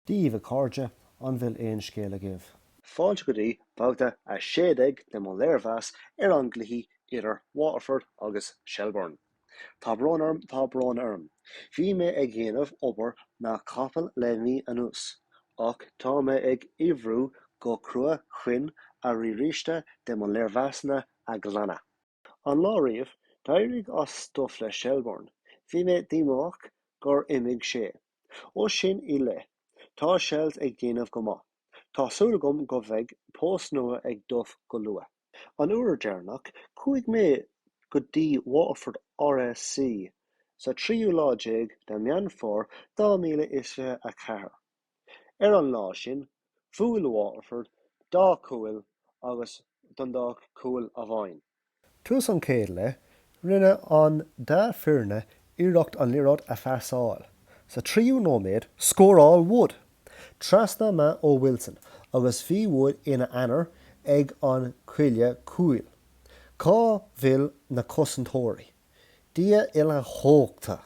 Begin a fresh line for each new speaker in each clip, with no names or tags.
daoibh, a chairde, an bhfuil aon scéal agaibh? Fáilte go
dtí babhta 16 de mo léirmheas ar an gcluiche idir Waterford agus Shelbourne. Tá brón orm, tá brón orm. Bhí mé ag dhéanamh obair na capaill le mí anuas, ach tá mé ag oibriú go crua chun an riaráiste de mo léirmheasanna a ghlanadh. An lá riamh, d'éirigh as Duff le Shelbourne. Bhí mé díomách gur imigh sé. Ó sin i leith, tá Shells ag déanamh go maith. Tá súil agam go bheidh post nua ag Duff go luath. An uair deireanach, chuaigh mé go dtí Waterford RSC sa tríú lá déag de Meán Fómhair 2024. Ar an lá sin, bhuail Waterford dhá chúl agus Dundalk cúl amháin. Tús an chéad
leith, rinne an dá foirne iarracht an liathróid a phasáil. Sa tríú nóiméad, scóráil Wood trasna maith ó Wilson agus bhí Wood ina aonar ag an cuaille cúil. Cá bhfuil na cosantóirí? Dia uilechumhachtach!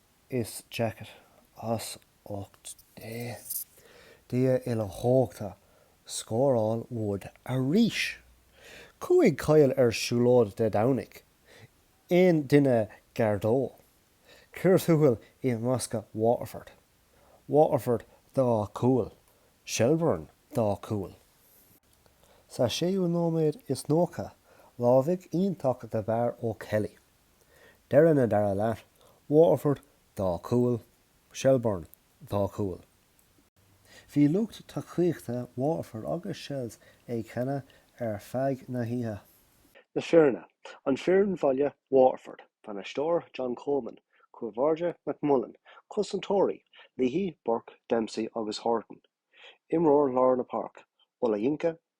is daichead. As ucht Dé. Dia uilechumhachtach, scóráil Wood arís! Chuaigh Coyle ar siúlóid Dé Domhnaigh. Aon duine gar dó? Cíor thuathail i mbosca Waterford. Waterford dhá chúl. Shelbourne dhá chúl. Sa séú nóiméad is nócha, lámhaigh iontach de bharr ó Kelly. Deireadh na dara leath, Waterford dhá chúl, Shelbourne dhá chúl. Bhí lucht tacaíochta Waterford agus Shels ag canadh ar feadh na hoíche. Na
foirne, An foireann bhaile, Waterford, Bainisteoir, John Coleman, Cúl báire, McMullan, Cosantóirí, Leahy, Burke, Dempsey agus Horton, Imreoir lár na páirc, Olayinka,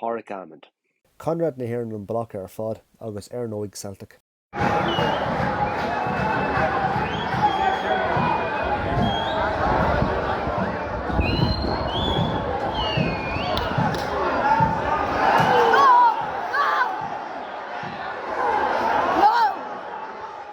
Pádraig
Amond. Conradh
na
hÉireann an bealach ar fad agus ar
ndóigh Celtic.